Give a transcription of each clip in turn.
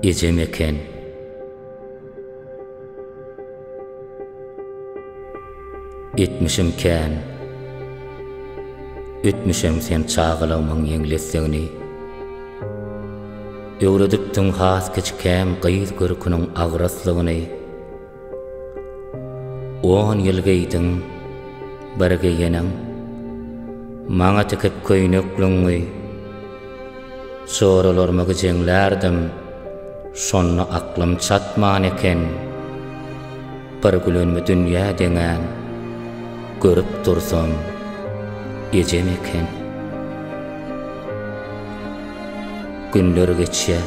Ejem eken. Etmişim kän. Ötmüşem sen çagalygymyň ýeňlesdigini. Öwredipdiň has kiçikäm gyz görküniň agraslygyny. On ýyl geýdiň bir geýenem, Maňa tikip köýnek lüňňi. Çoralarymy gijeňlärdim, Şonda aklym çatman eken. Bir gülenmi dünýä deňän, Görüp dursam, ejem eken. Günler geçýär,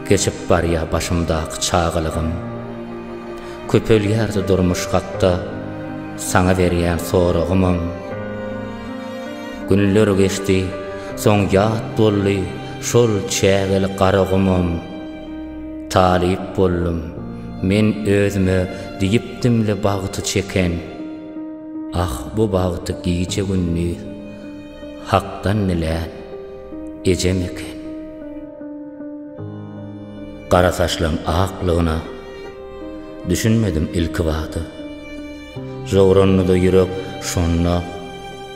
geçip barýar başymdaky çagalygym. Köpelýärdi durmuş hakda saňa berýän soragymam. Günler geçdi, soň ýat boldy şol çägeli Garagumam. Talyp boldum, men özüme diýipdimle bagty çeken. Ah, bu bagty gije-gündiz. Hakdan dilän ejem eken. Gara saçlaň aklygyna düşünmedim ilki bada. Jowrandy-da ýürek şonda,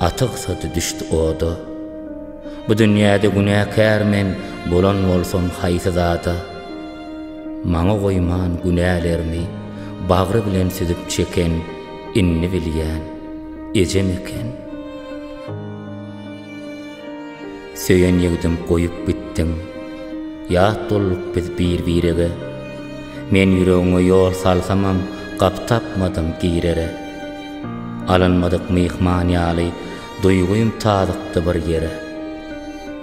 atygsady düşdi oda. Bu dünýäde günäkär men bolan bolsam haýsy zada? Maňa goýman günälerimi bagry bilen süzüp çeken. Indi bilýän, ejem eken. Söýen ýigdim goýup gitdiň. Ýat bolduk biz bir-birege. Men ýüregiňe ýol salsamam, gapy tapmadym girere. Alynmadyk myhman ýaly, duýgym tazykdy bir ýere.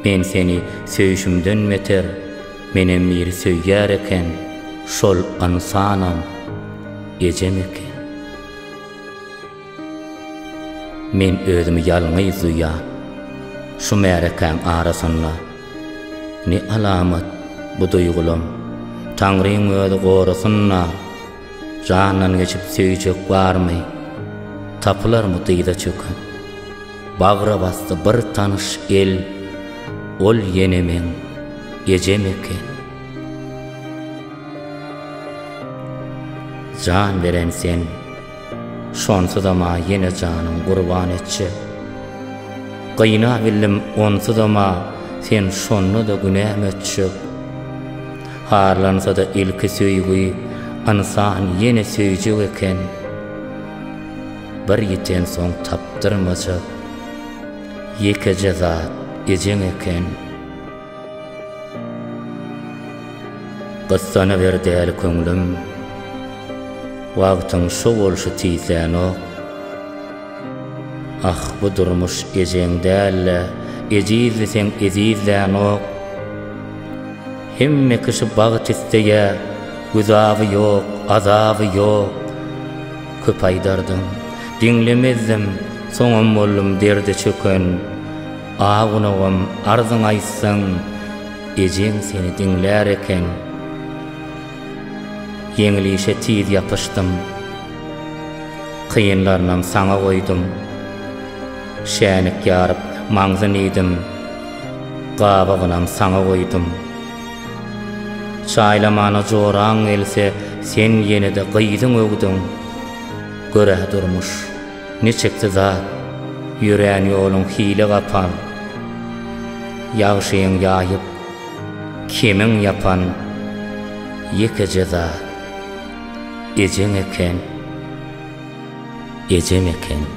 Men seni söýşümden beter. Menem biri söýýär eken, şol ynsanam ejem eken. Men özümi ýalňyz duýýan, şu märekäň arasynda. Ne alamat bu duýgulam, Taňryň özi gorasyn-la! Jandan geçip söýjek barmy? Tapylarmy dyza çöken? Bagra basdy bir tanyş el, Ol ýenemeň ejem eken. Jan beren sen, şonsuzam-a ýene janyň gurban etjek. Gynabildim onsuzam-a, sen şonda-da günämi ötjek? Harlansada ilki söýgi, ynsan ýene söýjek eken. Bir ýitensoň tapdyrmajak, ýekeje zat ejeň eken. Gyssanyber däli köňlüm, wagtyň şo bolşy tiz dänok. Ah bu durmuş ejeň dälle ejizdi seň ezizläňok Hemme kişi bagt isleýä güzaby ýok azaby ýok Köp aýdardyň diňlemezdim soňam boldum derde çöken A gunagym arzyňy aýtsaň ejeň seni diňlär eken. Ýeňil işe tiz ýapyşdym. Kynlarynam saňa goýdum. Şänik ýaryp, maňzyn iýdim. Gabygynam saňa goýdum. Çaýlamana joraň gelse, sen ýene-de gyzyň öwdüň. Gör-ä durmuş, niçiksi zat, ýörän ýoluň hile gapal. Ýagşyň ýaýyp. Kimiň ýapan ýekeje zat, Ejeň eken, ejem eken.